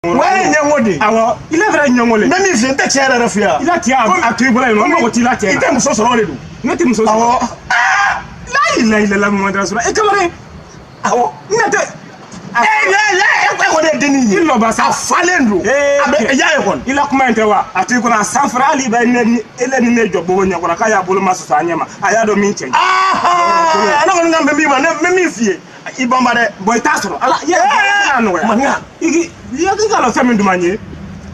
wɛrɛ ɲɛngo de awɔ ile fɛnɛ ɲɛngo le n bɛ min f'i yɛ n tɛ tiɲɛ yɛrɛ f'i yɛ i la tiɲɛ a to i bolo yen nɔ n mago t'i la tiɲɛ i tɛ muso sɔrɔ de don ne tɛ muso sɔrɔ awɔ la ilaha illallah muhamadu rasulullah e kamalen awɔ ne tɛ ee la la e ko e ko ne denni ye i lɔba sa a falen don a bɛ y'a ye kɔni i la kuma in tɛ wa a to i kɔnɔ a san fara hali bɛ ne ni ele ni ne jɔ bobo ɲɛkɔrɔ k'a y'a bolo ma sɔsɔ a ɲɛ ma a y'a dɔn min cɛ ye ne kɔni kan bɛ min ma ne bɛ min f'i yɛ i banba dɛ bon i t'a sɔrɔ ala y'a nɔgɔya maninka i k'a lɔn fɛn min duman ye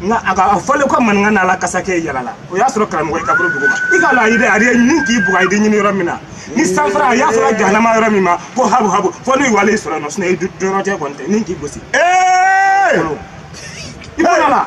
nka a fɔlen ko maninka n'ala kasa kɛ yala la o y'a sɔrɔ karamɔgɔ ye kaburu dugu ma i k'a lɔn a ye dɛ a ye nin k'i bugɔ a ye ɲini yɔrɔ min na ni san fara a y'a sɔrɔ jahanama yɔrɔ min ma ko habu habu fɔ n'u wale sɔrɔ nɔ sinɔ i dɔrɔn tɛ kɔni tɛ ni k'i gosi ee i bɔra la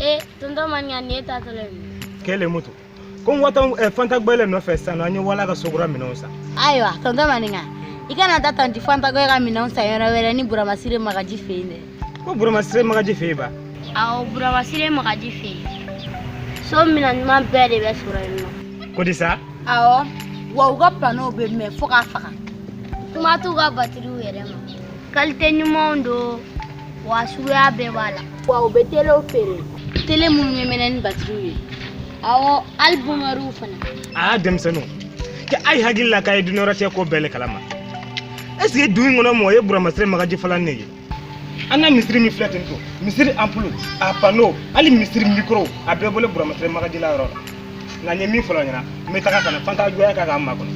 ee tonton maninka nin ye taatɔla ye kɛ le mutu ko n watɔ eh, fanta gbɛlɛ nɔfɛ sisan nɔ an ye wala ka sokura minɛnw san ayiwa tonton maninka i kana taa tanti fanta go ka minɛnw san yɔrɔ wɛrɛ ni buramasire magaji fɛ yen tɛ ko buramasire magaji fɛ yen ba awɔ buramasire magaji fɛ yen so minɛn ɲuman bɛɛ de bɛ sɔrɔ yen nɔ ko di sa awɔ wa u ka panow bɛ mɛn fo k'a faga kuma t'u ka batiriw yɛrɛ ma kalite ɲumanw don wa suguya bɛɛ b'a la wa u bɛ telew feere tele minnu bɛ mɛnɛ ni batiriw ye awɔ hali bumɛriw fana aa denmisɛnninw kɛ a ye hakili la k'a ye dunya rɔ cɛ ko bɛɛ le kalama est ce que du in kɔnɔ mɔgɔ ye buramasire magaji falan ne ye an ka misiri min filɛ ten to misiri anpulu a pano hali misiri mikoro a bɛɛ bɔlen buramasire magaji la yɔrɔ la nka n ye min fɔla i ɲɛna n bɛ taga ka na fanta jɔya k'a k'an makɔnɔ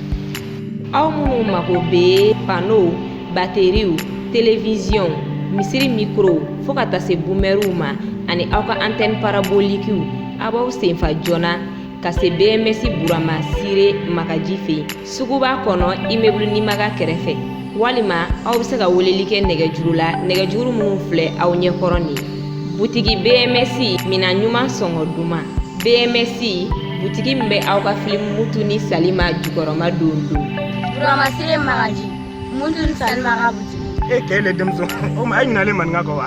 aw minnu mako bɛ panow bateriw telewiziyɔn misiri mikorow fo ka taa se bumɛriw ma ani aw ka antɛni parabolikiw aw b'aw senfa joona ka se bms buramasire magaji fɛ yen suguba kɔnɔ immeuble nimaga kɛrɛfɛ walima aw bɛ se ka weleli kɛ nɛgɛjuru la nɛgɛjuru minnu filɛ aw ɲɛkɔrɔ nin butigi bms minɛn ɲuman sɔngɔ duman bms butigi min bɛ aw ka filimu mutu ni salima jukɔrɔma don don buramasire magaji mutu ni salima ka butigi e kɛ le denmuso o ma e ɲinalen maninka kɔ wa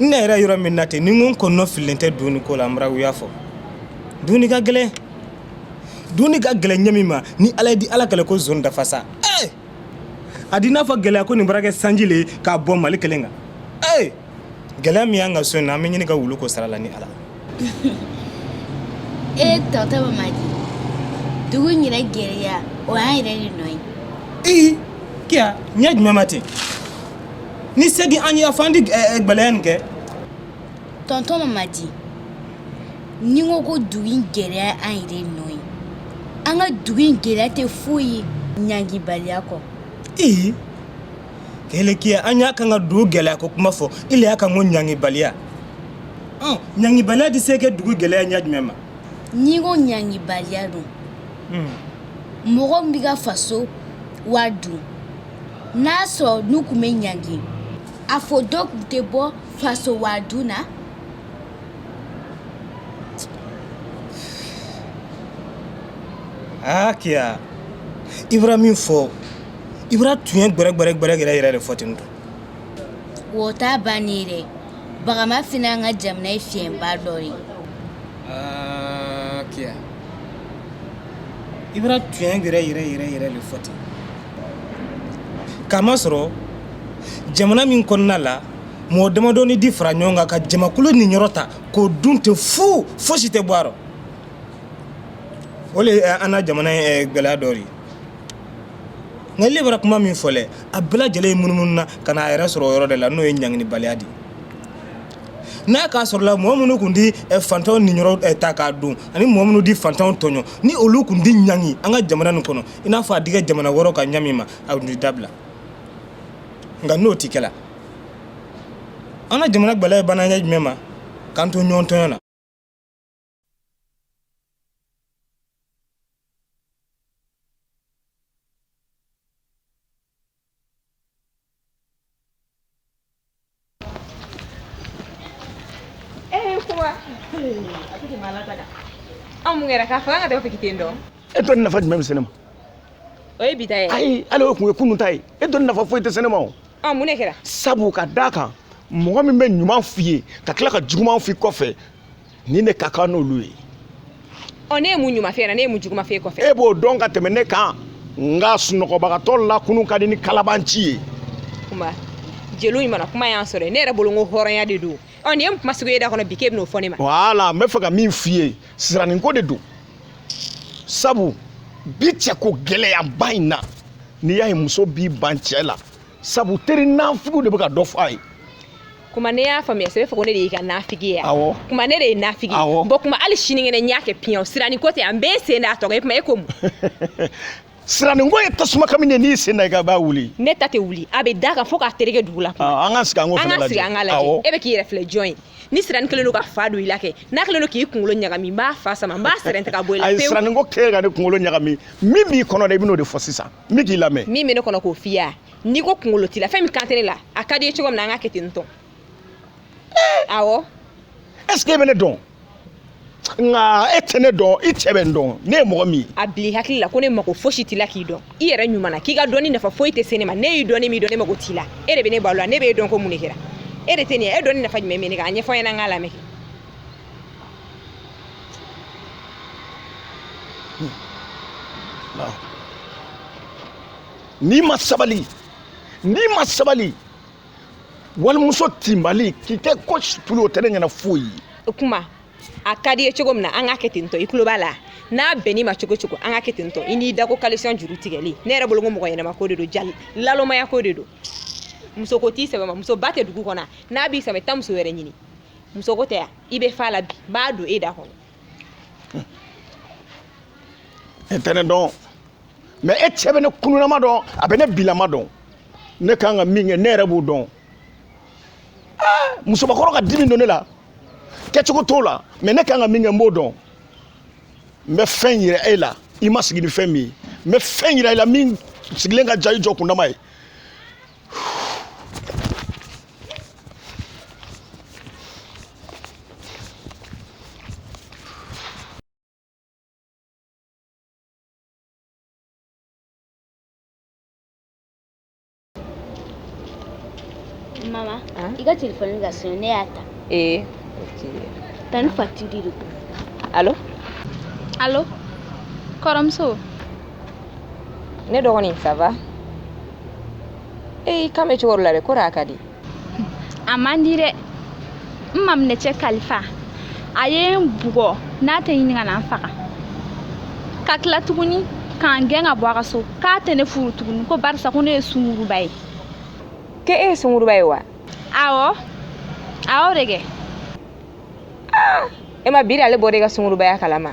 ne yɛrɛ yɔrɔ min na ten ni n ko n kɔnɔ fililen tɛ dumuni ko la n bara wuya fɔ dumuni ka gɛlɛn dumuni ka gɛlɛn ɲɛ min ma ni ala ye di ala kɛlɛ ko zon dafa sa ee a di n'a fɔ gɛlɛya ko nin bara kɛ sanji le k'a bɔ mali kelen kan ee gɛlɛya min y'an ka so in na an bɛ ɲini ka wulu ko sara la ni ala e tɔntɔn mamadi dugu in yɛrɛ gɛlɛya o y'an yɛrɛ de nɔ ye ee kiya ɲɛ jumɛn ma ten ni segi an ye afan di gɛlɛya nin kɛ tɔntɔn mamadi ne ko ko dugu in gɛlɛya an yɛrɛ de nɔ ye an ka dugu in gɛlɛya tɛ foyi ye ɲangibaliya kɔ ee kele kiya an y'a kan ka dugu gɛlɛya ko kuma fɔ ile y'a kan ko ɲangibaliya ɔ ɲangibaliya di se kɛ dugu gɛlɛya ɲɛ jumɛn ma n'i ko ɲangibaliya don mɔgɔ min bɛ ka faso wari dun n'a sɔrɔ n'u tun bɛ ɲangi a fɔ dɔ tun tɛ bɔ faso wari dun na aa kiya i bara min fɔ i bara tuɲɛ gbɛrɛ gbɛrɛ gbɛrɛ yɛrɛ yɛrɛ de fɔ ten tun o t'a bannen ye dɛ bagama fana y'an ka jamana ye fiɲɛba dɔ de ye aa kiya i bara tuɲɛ yɛrɛ yɛrɛ yɛrɛ yɛrɛ de fɔ ten k'a masɔrɔ jamana min kɔnɔna la mɔgɔ damadɔni di fara ɲɔgɔn kan ka jamakulu niyɔrɔ ta k'o dun ten fu fosi tɛ bɔ a rɔ o le ye an na jamana in eh, gɛlɛya dɔ de ye nka ile bara kuma min fɔ le a bɛɛ lajɛlen ye munumunu na ka n'a yɛrɛ sɔrɔ o yɔrɔ de la n'o ye ɲanginibaliya de ye n'a k'a sɔrɔla mɔgɔ minnu tun di eh, fantanw niyɔrɔ eh, ta k'a dun ani mɔgɔ minnu di fantanw tɔɲɔ ni olu tun di ɲangi an ka jamana nin kɔnɔ i n'a fɔ a di kɛ jamana wɛrɛw kan ɲa min ma a tun di dabila nka n'o ti kɛla an ka jamana gbɛlɛya ye ban na ɲa jumɛn ma k'an to ɲɔgɔn tɔɲɔ na anw mun kɛra k'a fɔ an ka taa fiki ten dɔn e dɔnni nafa jumɛn bɛ se ne ma o ye bi ta ye ayi hali o tun ye kunun ta ye e dɔnni nafa foyi tɛ se ne ma o ɔ mun de kɛra sabu ka d'a kan mɔgɔ min bɛ ɲuman f'i ye ka tila ka juguman f'i kɔfɛ ni ne ka kan n'olu ye ɔ ne ye mun ɲuman f'e ɲɛ na ne ye mun juguman f'e kɔfɛ e b'o dɔn ka tɛmɛ ne kan nka sunɔgɔbagatɔ lakunun ka di ni kalabanci ye kuma jeliw ɲuman kuma y'an sɔrɔ ne yɛrɛ bolo ko hɔrɔnya de don ɔ nin ye kuma sugu ye da kɔnɔ bi k'e bɛn'o fɔ ne ma wala n bɛ fɛ ka min f'i ye siraninko de don sabu bi cɛko gɛlɛyaba in na n'i y'a ye muso b'i ban cɛ la sabu teri nanfigiw de bɛ ka dɔ fɔ a ye kuma ne y'a faamuya sɛbɛ fɔ ko ne de y'i ka nafigi ye awɔ kuma ne de ye nafigi awɔ bon kuma hali sinikɛnɛ n y'a kɛ piɲɛw siranin ko tɛ an bɛɛ sen d'a tɔgɔ ye kuma e ko mun siranin ko ye tasuma kami de n'i sen da i ka b'a wuli ne ta tɛ wuli a bɛ da kan fo k'a tereke dugu la an ka sigi an k'o fana lajɛ an ka sigi an ka lajɛ e bɛ k'i yɛrɛ filɛ jɔn ye ni siranin kelen don ka fa don i la kɛ n'a kelen don k'i kunkolo ɲagami n b'a fa sama n b'a sɛrɛn tigɛ ka bɔ i la pewu ayi siranin ko tɛ ka ne kunkolo ɲagami min b'i kɔnɔ dɛ i bɛn'o de fɔ sisan n bɛ k'i lamɛn min bɛ ne kɔnɔ k'o f'i ye a n'i ko kunkolo t'i la fɛn min kan tɛ ne la a ka di i ye cogo min na an k'a kɛ ten tɔ awɔ est ce que e bɛ ne dɔn nka e tɛ ne dɔn i cɛ bɛ n dɔn ne ye mɔgɔ min ye a bila i hakili la ko ne mako fosi t'i la k'i dɔn i yɛrɛ ɲuman na k'i ka dɔnni nafa foyi tɛ se ne ma ne y'i dɔn ne m'i dɔn ne mako t'i la e de bɛ ne balo la ne bɛ e dɔn ko mun de kɛra e de tɛ nin ye e dɔnni nafa jumɛn bɛ ne kan a ɲɛfɔ n ɲɛna n k'a lamɛn n'i ma sabali walimuso tinbali k'i kɛ ko situlu o tɛ ne ɲɛna foyi ye o kuma a ka di i ye cogo min na an k'a kɛ ten tɔ i tulo b'a la n'a bɛnn'i ma cogo cogo an k'a kɛ ten tɔ i n'i da ko kalisɔn juru tigɛli ne yɛrɛ bolo ko mɔgɔ ɲɛnama ko de don jaa nalomaya ko de don musoko t'i sɛbɛ ma muso ban tɛ dugu kɔnɔ n'a b'i sɛbɛ ma taa muso wɛrɛ ɲini musoko tɛ yan i bɛ fa la bi n b'a don e da kɔnɔ e tɛ ne dɔn mais e cɛ bɛ ne kununama dɔn a bɛ ne bilama dɔn ne kan ka min kɛ ne yɛrɛ b'o dɔn musobakɔrɔ ka dimi don ne la kɛcogo t'o la mais ne kan ka min kɛ n b'o dɔn n bɛ fɛn yira e la i ma sigi ni fɛn min ye n bɛ fɛn yira i la min sigilen ka jan i jɔ kundama ye mama i ka telefɔni ka sonner ne y'a ta ee tanti fati de don alo alo kɔrɔmuso ne dɔgɔnin ça va e kan bɛ cogo la dɛ kori a ka di a man di dɛ n maminɛcɛ kalifa a ye n bugɔ n'a tɛ ɲini ka na n faga ka tila tuguni k'an gɛn ka bɔ a ka so k'a tɛ ne furu tuguni ko barisa ko ne ye sunguruba ye k'e ye sunguruba ye wa awɔ awɔ de kɛ e m'a miiri ale bɔra i ka sungurubaya kalama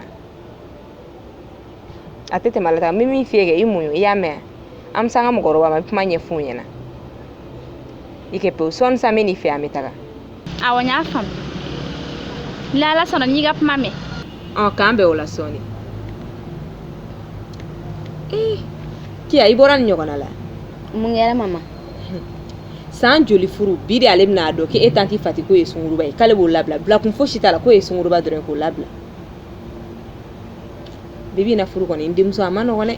a tɛ tɛmɛ ale ta n bɛ min f'i ye kɛ i muɲu i y'a mɛn an bɛ se an ka mɔgɔkɔrɔba ma kuma ɲɛf'u ɲɛna i kɛ pewu sɔɔni san bɛ nin fɛ an bɛ taga awɔ n y'a faamu ni ala sɔnna n'i ka kuma mɛn ɔ k'an bɛn o la sɔɔni kiya i bɔra nin ɲɔgɔnna la mun kɛra mama san joli furu bi de ale bɛna a dɔn k'e tanti fati k'o ye sunguruba ye k'ale b'o labila bilakun fosi t'a la k'o ye sunguruba dɔrɔn ye k'o labila bibi na furu kɔni n denmuso a ma nɔgɔn dɛ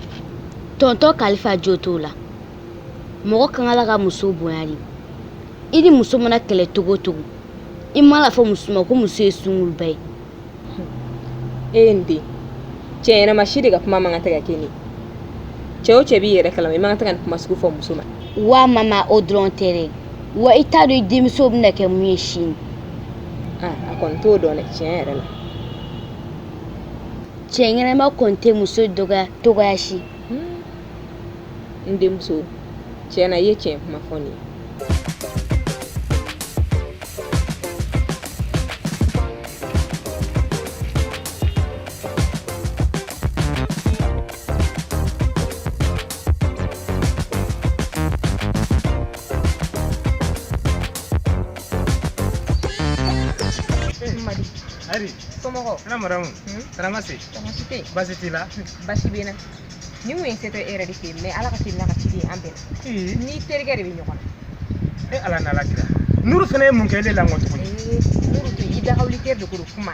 tɔntɔn kalifa jo t'o la mɔgɔ ka kan ka muso bonya de i ni muso mana kɛlɛ cogo o cogo i mana fɔ muso ma ko muso ye sunguruba ye e ye n den cɛ ɲɛnama si de ka kuma man kan tɛ ka kɛ ni cɛ o cɛ b'i yɛrɛ kalama i man kan tɛ ka nin kuma sugu fɔ muso ma wa mama o dɔrɔn tɛ dɛ wa i t'a dɔn i denmuso bɛna kɛ mun ye sini a kɔni t'o dɔn dɛ tiɲɛ yɛrɛ la cɛ ɲɛnama kɔni tɛ muso dɔgɔya cogoya si hmm. n denmuso tiɲɛ na i ye tiɲɛ kuma fɔ nin ye Ari somɔgɔw ala madamu karamasi karamasi tɛ basi t'i la basi bɛ n na nin kun ye se tɛ e yɛrɛ de fɛ yen mɛ ala ka teli ka ci an bɛɛ la n'i terikɛ de bɛ ɲɔgɔn na e ala n'ala kira nuru fana ye mun kɛ ne la tuguni nuru tɛ i dagawuli tɛ dogo kuma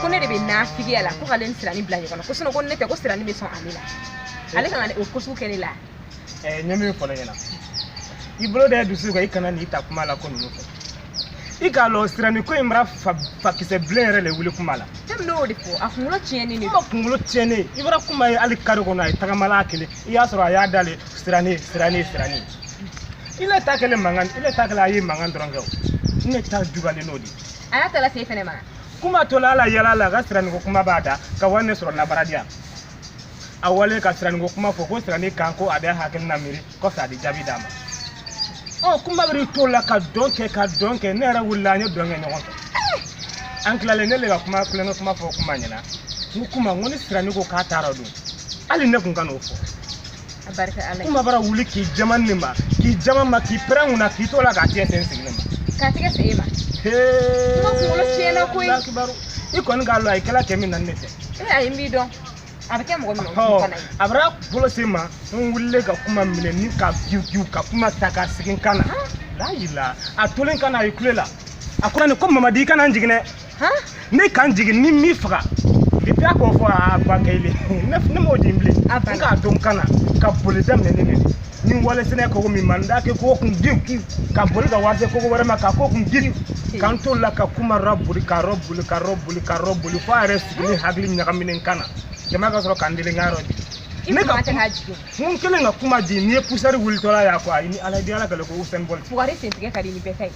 ko ne de bɛ nafigiya la ko k'ale ni sirani bila ɲɔgɔn na ko sinɔn ko ne tɛ ko sirani bɛ sɔn ale la ale kana o ko sugu kɛ ne la ɛ ɲɛ min fɔ ne ɲɛna i bolo da dusu kan i kana n'i ta kuma la ko ninnu fɛ i k'a lɔn sirani ko in bara fakisɛ bilen yɛrɛ le wuli kuma la ne bɛn'o de fɔ a kunkolo tiɲɛni de ma kunkolo tiɲɛni i bara kuma ye hali kari kɔnɔ a ye tagama la a kelen i y'a sɔrɔ a y'a dale sirani sirani sirani i ne ta kɛlen mankan i ne ta kɛlen a ye mankan dɔrɔn kɛ o ne ta juguyalen n'o de a y'a tala se fɛnɛ ma kuma tola a la yala la ka siraniko kuma b'a da ka wa ne sɔrɔ n na baaradiya a walen ka siraniko kuma fɔ ko sirani kan ko a bɛ hakilina miiri kɔfɛ a di jaabi d'a ma ɔ kuma bɛ to la ka dɔn kɛ ka dɔn kɛ ne yɛrɛ wulila an ye dɔn kɛ ɲɔgɔn fɛ an tilalen ne le ka kuma kulonkɛ kuma fɔ kuma ɲɛna n ko kuma n ko ni sirani ko k'a taara don hali ne kun ka n'o fɔ a barika ala kuma bara wuli k'i jaman ne ma k'i jaman n ma k'i pɛrɛn n kunna k'i to la k'a tigɛ sin sigilen ma k'a tigɛ sin ne ma kuma kunkolo tiɲɛna koyi i kɔni k'a lɔn a ye kɛla kɛ min na ne tɛ ee ayi n b'i dɔn a bɛ kɛ mɔgɔ min na fana ye a bara bolo se n ma n wulilen ka kuma minɛ ni ka giw giw ka kuma ta ka sigi n kan na la yirila a tolen n kan na a ye kule la a ko nin ko mamadi i kana n jigin dɛ ne kan jigin ni min faga depuis a k'o fɔ a ba kɛlen ne m'o di bilen n k'a dɔn k'an na ka boli daminɛ ne de ni wale sɛnɛ kogo min ma n da kɛ k'o kun diw ka boli ka wari se kogo wɛrɛ ma k'a k'o kun diw k'an to la ka kuma rɔ boli ka rɔ boli ka rɔ boli ka rɔ boli fo a yɛrɛ sigilen hakili ɲagaminen kan na jama ka sɔrɔ k'an deli n ka yɔrɔ di ne ka mun kelen ka kuma di n'i ye pusɛri wulitɔla y'a fɔ a ye ni ala di ala kɛlɛ ko Usain Bolt fugari sentigɛ ka di ni bɛɛ ta ye